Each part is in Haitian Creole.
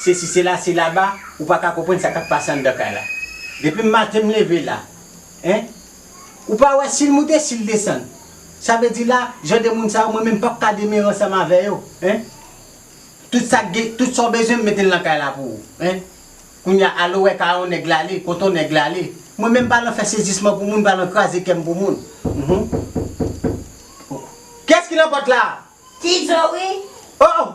sesi sela se laba ou paka konprann sa kap pase andan kay la depi maten m leve la hein ou pa wè sil moute sil desann sa vle di la jan de moun sa yo mwen menm pap ka demere ansanm avè yo hein tout sak gen tout sa w bezwen m metel nan kay la pou ou hein kounya ale wè ka yon nèg la ale kont yon nèg la ale mwen menm pa nan fè sezisman pou moun pa nan kraze kèm pou moun humm kiyès ki nan pòt la? Ti Djo wi. Oh!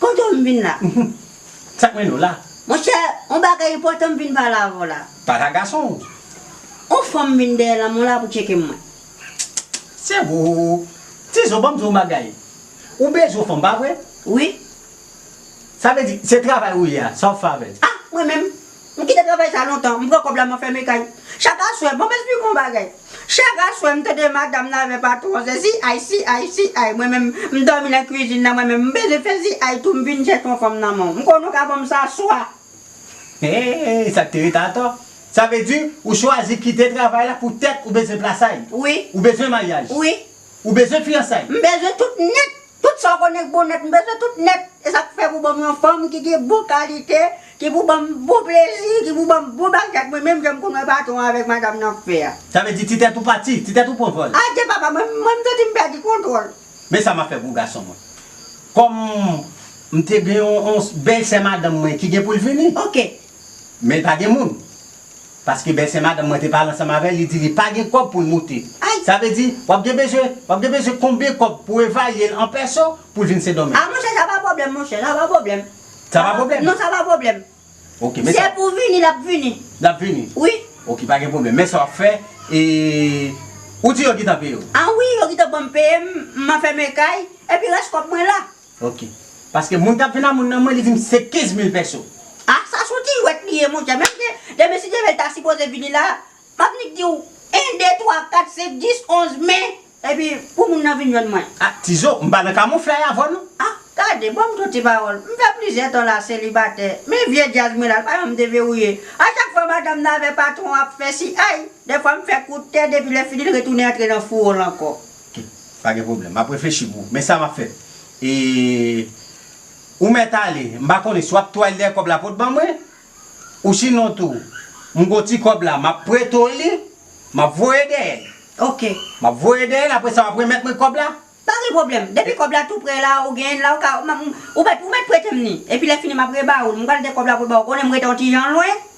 Kote w m vin la? Mph. Sa k mennen w la? Monchè, on bagay enpòtan m vin pale avè w la. Pale ak gason w. On fanm vin dèyè lanmè w la pou tcheke mwen. Tchttchtt. Se ou? Tizo, ban m di w on bagay. Ou bezwen on fanm, pa vre? Wi. Sa vle di, se travay ou ye a, sa w fè avè l? Ah! Mwen menm? M kite travay sa lontan, m pran kòb la m anfème kay. Chak aswè, bon m esplike on bagay. Chak aswè m tande madam nan avè patwon an se si ay, si ay, si ay. Mwen menm, m dòmi nan kwizin nan mwen menm, m bezwen fè si ay tou, m vin chèche on fanm nan men w. M konnen w ka ban m sa swa. Eee, sa k te rete atò? Sa vle di, ou chwazi kite travay la poutèt ou bezwen plasay? Wi. Ou bezwen maryaj? Wi. Ou bezwen fiyansay? M bezwen tout nèt. Tout sa w konnen k bon nèt m bezwen tout nèt e sa k fè pou ban m yon fanm ki gen bon kalite ki pou ban m bon plezi ki pou ban m bon bagay ak mwen menm jan m konn wè patwon an avèk madam nan ap fè a. Sa vle di ti tèt ou pati, ti tèt ou pran vòl. Adye papa mwen mwen m santi m pèdi kontwòl. Men sa m ap fè gwo gason mwen. Kòm m te gen yon bèlsè madanm mwen ki gen pou l vini. Ok. Men pa gen moun. Paske bèlsè madanm mwen te pale ansanm avè l, li di li pa gen kòb pou l moute. Ay! Sa vle di, w ap gen bezwen, w ap gen bezwen konbyen kòb pou evalye l an pèso pou l vin Sendomeng? A monchè, sa pa pwoblèm monchè, sa pa pwoblèm. Sa pa pwoblèm? Non, sa pa pwoblèm. Ok, men sa. Se pou vini, l ap vini. L ap vini? Wi. Ok, pa gen pwoblèm. Men sa w ap fè, e, ou di yo gentan peye w? A wi, yo gentan ban m peye m, m a fèmen kay, epi rès kòb mwen la. Ok. Paske moun kap jwenn a moun nan mwen li dim se 15 mil pèso. Ah sa son ti jwèt li ye monchè menm ke demen si Dyemèl ta sipoze vini la map nik diw 1 2 3 4 5 10 11 me epi pou moun nan vin jwenn mwen. Ah tizo m pa nan kamouflay avèw non. Ah gade banm ton ti pawòl m fè plizyè tan la selibatè men vye djaz mwen la l pa janm deverouye a chak fwa madanm nan avè patron ap fè si ayy dèfwa m fè kout tè depi lè fini l retounen antre nan fouwo l ankò. Tout, pa gen pwoblèm. M ap reflechi pou ou. Men sa m ap fè. E, ou mèt ale, m pa konnen si w ap twal dèyè kòb la pou w t ban mwen, ou sinon tou, m gen yon ti kòb la, m ap prete w li, m ap voye dèyè l. Ok. M ap voye dèyè l, apre sa w ap remèt mwen kòb la? Pa gen pwoblèm. Depi kòb la tou pre la, ou genyen l la, ou ka, m ap, ou mèt, ou mèt prete m ni. Epi lè fini m ap reba ou l. M pral gen kòb la pou l ba ou. Ou konnen m rete yon ti jan lwen.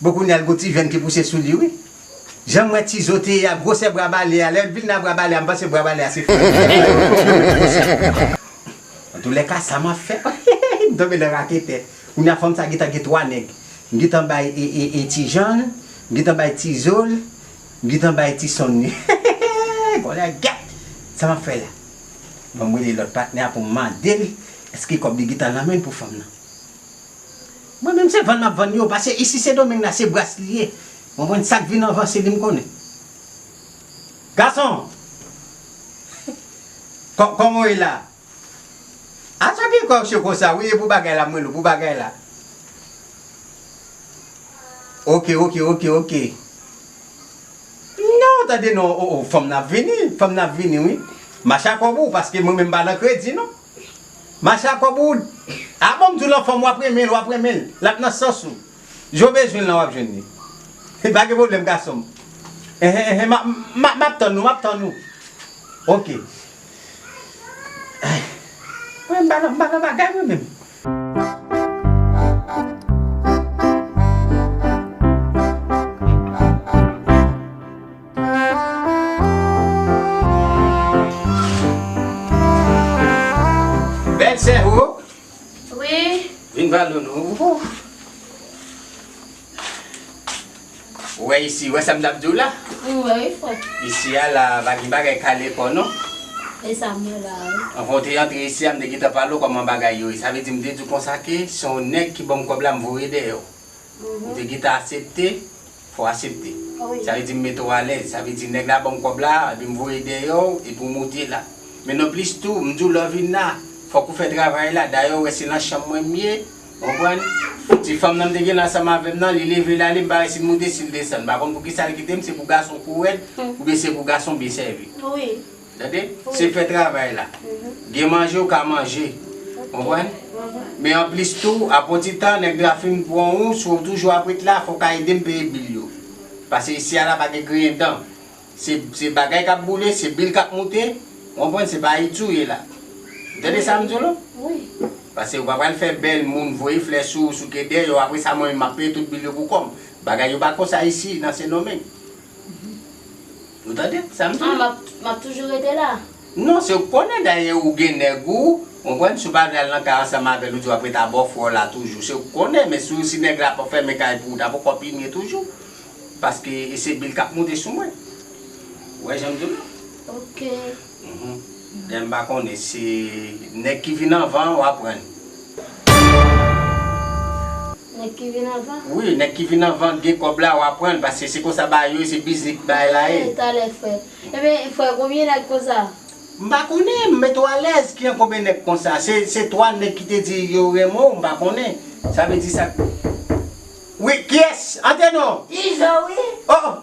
Bon kounya li gon ti venn ki pouse sou li wi. Janm wè Tizo te ye a gwosè bra bale a lèl vin nan bra bale a m panse bra bale a se frèl li te ye wi tjou met gwosè sou bra. Antoulèka sa map fè hehehe m tonbe nan raketè kounya fanm sa gentan gen 3 nèg m gentan bay ee Tijan l m gentan bay Tizo l m gentan bay ti sonn li hehehehe kolègèt sa map fè la banm rele lòt patnè a poum mandel èske kòb li gentan nan menl pou fanm nan. Mwen menm se vann map vann yo pase isi se domeng la se bras li ye konprann sak vin anvan se li m konnen gason kòman w ye la a sa ki fè w cho konsa wi e pou bagay la m wè l ou pou bagay la ok ok ok ok non tande non oo fanm nan ap vini fanm nan ap vini wi mache ak kòb ou paske mwen menm m pa nan kredi non. Mache ak kòb ou Ah bon m di w lan fanm wap renmen l wap renmen l lap nan sans ou Jan w bezwen l lan wap jwenn li Pa gen pwoblèm gason m Enhen enhen map tann ou map tann ou Ok Mwen m pa nan bagay mwen menm. Bèl sè ho Wi Vin pran doudou Ouf Ou wè isi, ou wè sa m t ap di w la M wè wi frè Isi a la pa gen bagay kale kò non E sa m wè la a wi Anvan w te antre isi a m te gentan pale w kòman bagay yo ye Sa vle di m te di w konsa ke se yon nèg ki ban m kòb la m voye dèyè w Ou te gentan asepte Fò w asepte. Sa vle di m mete w alèz. Sa vle di nèg la ban m kòb la, epi m voye dèyè w, epi w moute la. Men nan plis tou, m di w lè w vin la, fòk ou fè travay la. Dayè ou wè se nan chanm mwen m ye, ou konprann. Ti fanm nan m te gen nan ansanm avè m nan, li leve l ale, m pa wè si l moute, si l desann. M pa konn poukisa l kite m, se pou gason kou rèd, oubyen se pou gason byen sèvi. Tande? Se fè travay la. Gen manje ou ka manje. Konprann? Men anplis tou, apon ti tan, nèg la fin pran ou, si w toujou ap ret la, fò w ka ede m peye bil yo. Pase isi a la pa gen griyen dan. Se, se bagay k ap boule, se bil k ap moute. Ou konprann? Se pa Ayiti ou ye la. Ou tande sa m di w la? Pase ou pa pral fè bèl moun, voye flè sou ou, souke dèyè ou, apre sa mwen menm m ap peye tout bil yo pou kò m. Bagay yo pa konsa isi, nan Sendomeng. Ou tande sa m di w? Ah, m ap toujou rete la. Non, se w konnen dayè ou gen nèg ou, konprann, si w pa vle al nan kay ansanm avè l ou di w ap rete a bòfrè w la toujou. Se w ki konnen, men si w si nèg la ap fèmen kay pou ou ta poko pi mye toujou. Paske e se bil k ap moute sou mwen. Ou wè jan m di w la? Ok. Lèm pa konnen se nèg ki vin anvan an wa prann. Nèg ki vin anvan? Wi nèg ki vin anvan gen kòb la wa prann paske se konsa bagay yo ye se biznis ki bagay la ye. Talè frè. Ebyen frè konbyen nèg konsa? M pa konnen m met ou alèz ki an konbyen nèg konsa se 3 nèg ki te di yo renmen w m pa konnen sa vle di sa wi kiyès antre non. Izo wi. Oh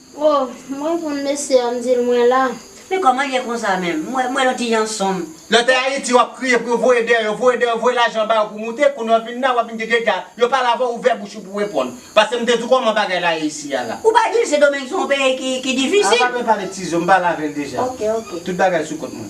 Oh m reponn mesye a m dil mwen la. Men kòman l ye konsa menm? M wè yon ti jan sonm. Lè w te Ayiti wap kriye pou yo voye dèyè yo, voye dèyè yo, voye lajan ba yo pou moute, kounye a w vin la wap vin di dega, yo pale avè w ouvè bouch ou pou w reponn. Pase m te di w kòman bagay la ye isi a la. Ou pa di l Sendomeng se yon peyi ki difisil? Ah pa bzwen pale tizo m pale avè l deja. Ok ok. Tout bagay sou kont mwen.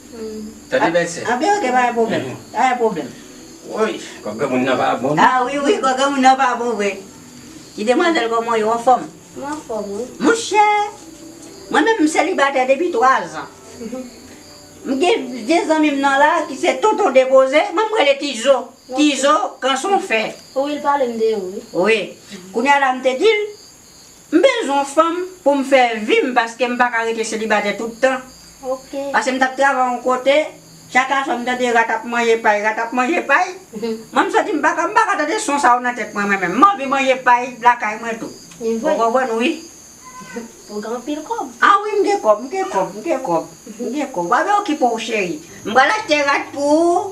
Tande bèt sè. Anpi ok pa gen pwoblèm. Pa gen pwoblèm. Woy! Kò granmoun nan pa bon non. Ah wi wi kò granmoun nan pa bon vre. Ti demwazèl kòman w ye ou anfòm? Mwen anfòm wi. Monchè! Mwen menm m selibatè depi 3 zan. M gen 2 zanmi m nan la ki se tonton depoze, mwen m rele ti zo. Ti zo kanson fè. Wi l pale m de ou wi. Wi. Kounya la m te di l. M bezwen yon fanm pou m fè vi m paske m pa ka rete selibatè tout tan. Pase m t ap travay yon kote, chak aswè m tande rat ap manje pay, rat ap manje pay. Mwen m santi m pa ka m pa ka tande son sa yo nan tèt mwen mwen menm. M anvi manje pay lakay mwen tou. Ou konprann wi. Ou gen anpil kòb. A wi m gen kòb, m gen kòb, m gen kòb, m gen kòb. W ap vin okipe w cheri. M pral achte rat pou ou.